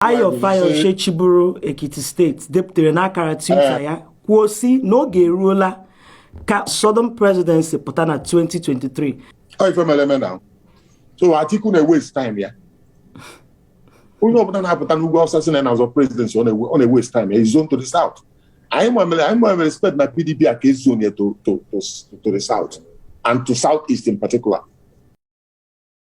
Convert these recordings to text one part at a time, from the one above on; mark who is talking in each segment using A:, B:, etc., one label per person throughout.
A: Ayo Fayose chịburu Ekiti State depụtara n'akara Twitter eh. ya kwuo sị na oge eruola ka Southern Presidency pụta na 2023. Ọ ife mere eme
B: na so Atiku na-ewaste time ya onye ọbụla na-apụta n'ugwu Awụsa sị na na-azọ presidency ọ na-ewaste time ya e zone to the south anyị nwere anyị nwere respect na PDP a ka e zone ya to the south and to south east in particular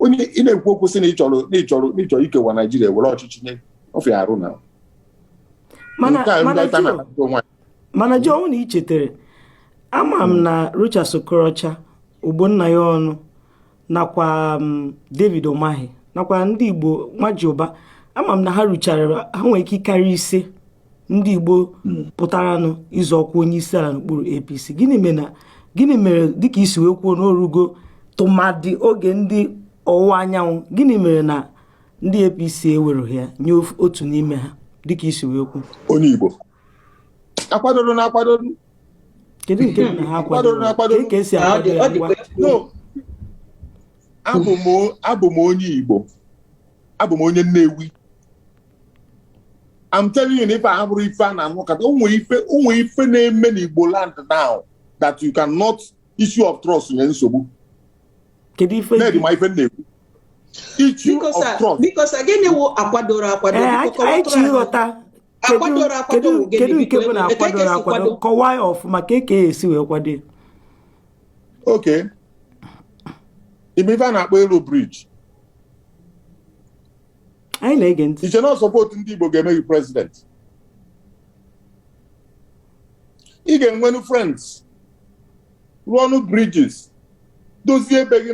B: onye ị na-ekwu okwu sị na ị chọrọ na ị chọrọ na ị chọrọ ikewa Naịjirịa were ọchịchị nye ofe arụ na mana nke a mana ndị ọcha Joe, na-akpata
A: onwe ha. mana Joe, ọ bụrụ na i chetara ama m na Rochas Okorocha Ogbonnaya Onu nakwa m, David Umahi nakwa ndị Igbo Nwajiuba ama m na ha ruchara ha nwere ike ịkarị ise ndị Igbo pụtaranụ ịzọ ọkwa onye isi ala n'okpuru APC gịnị mere na gịnị mere dịka i si wee kwuo na o rugo tụmadị oge ndị ọwụwa anyanwụ gịnị mere na ndị APC ewereghị ya nye otu n'ime ha dịka i si wee kwuo onye
B: Igbo akwadoro na
A: akwadoro kedu nke na ha akwadoro na akwadoro ka e si akwado ya
B: ngwa abụ m onye Igbo abụ m onye Nnewi I'm telling you na ife a bụrụ ife a na-anụ kata ụmụ ife ụmụ ife na-eme n'Igbo land now that you cannot issue of trust nye nsogbu kedu ife na-edi ma ife na-ekwu issue of trust biko sir gịnị wụ
C: akwadoro akwado anyị chọrọ ịghọta akwadoro akwado wụ gịnị kedu nke bụ na akwadoro akwado kọwaa ya ọfụma ka eke e si wee kwado okay e nwe ife a na-akpọ ịlụ bridge anyị na-ege ntị i che na support ndị Igbo ga-eme gị president ị ga-enwenụ friends rụọnụ bridges dozie ebe gị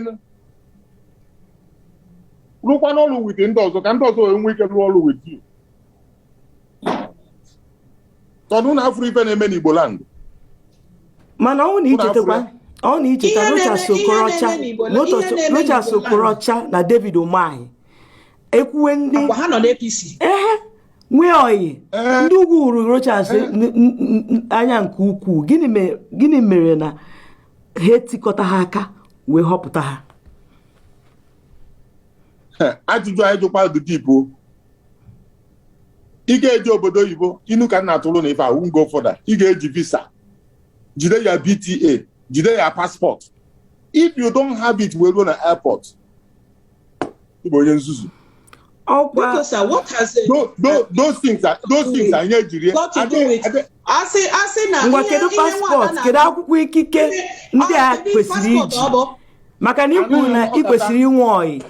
C: rụkwanụ ọrụ with ndị ọzọ ka ndị ọzọ wee nwee ike rụọ ọrụ with you tọnụ na a fụrụ ife na-eme n'Igbo
A: land mana ọ na i chetakwa ọ na i cheta Rochas Okorocha na David Umahi ekwuwe ndị ha nọ
C: n'APC ehe
A: nwee ọyị eh. ndị ugwu hụrụ Rochas eh. anya nke ukwuu gịnị mere na ha etikọta ha aka wee họpụta ha
B: eh, ajụjụ a ị jụkwa dị deep o ị ga-eje obodo oyibo inu ka m na-atụrụ na ife I won't go further ị ga-eji visa jide ya BTA jide ya passport if you don't have it wee ruo na airport ị bụ onye nzuzu asị
C: asị na ngwa kedu paspọtụ
A: kedu akwụkwọ ikike ndị a kwesịrị iji maka na i kwuru na ị kwesịrị inwe WAEC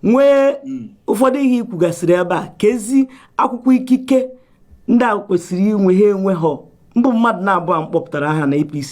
A: nwee hmm. ụfọdụ ihe i kwugasịrị ebe a kezi akwụkwọ ikike ndị a kwesịrị inwe ha enwe ha mbụ mmadụ na-abụọ m kpọpụtara aha na APC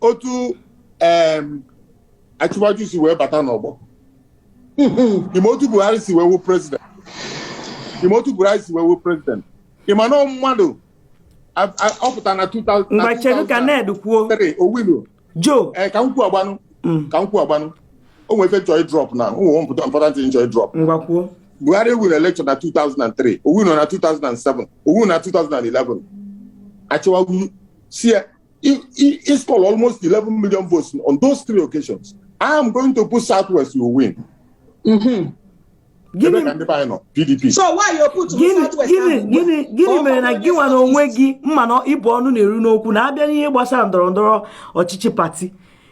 B: otu Asiwaju si wee bata n'ọgbọ ị ma otu buhari si wee win prezident ị ma otu buhari si wee win prezident ị ma na mmadụ ọ pụtara na 2000 mgbe chedu ka ned
A: kwuo o
B: winrọ Joe ee ka
A: m kwuo
B: agbanụ mm. ka m kwuo agbanụ o nwere ife chọọ drop na o nwere important thing chọọ drop ngwa kwuo buhari
A: ewinrọ elekshọn
B: na 2003 o winrọ na 2007 o winrọ na 2011 Asiwaju sị ya He, he, he scored almost 11 million votes on those three occasions. I am going to put Southwest, you will win. Mm-hmm. Gịnị Ebe ka ndị be anyị nọ? PDP. So why you
C: put gịnị Southwest gịnị ahụ? gịnị gịnị
A: Ọ mere na bụrụ gị nwa na onwe gị m ma na ị bụ ọnụ na-eru n'okwu na a bịa n'ihe gbasara ndọrọ ndọrọ ọchịchị pati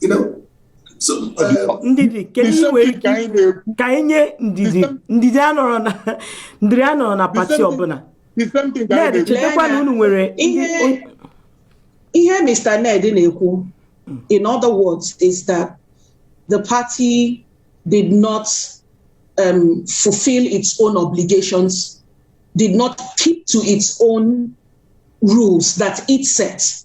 D: you know so uh, ndidi
A: kedu ihe nwere ike ka anyị na-ekwu ka anyị nye ndidi ndidi a nọrọ na ndidi a nọrọ na pati same thing. ọbụla the same thing ka anyị ned na-ekwu
C: chetakwa na unu nwere ndị- Ihe- ihe Mr. Ned na-ekwu in other words is that the party did not um, fulfill its own obligations, did not keep to its own rules that it set.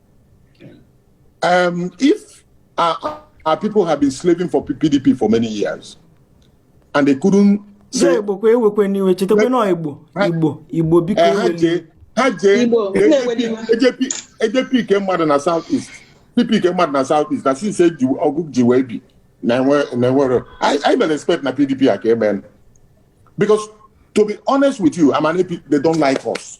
B: Um, if our, our people have been slaving for PDP for many years and they couldn't say, Igbo kwa ewekwana iwe chetakwa na Igbo Igbo Igbo biko eh, ewe ha jee AJP ike mmadụ na South East PP ike mmadụ na South East na since eji ọgụ ji wee bi na enwere I mere expect na PDP a ka emee because to be honest with you, ị ma na AP, they don't like us.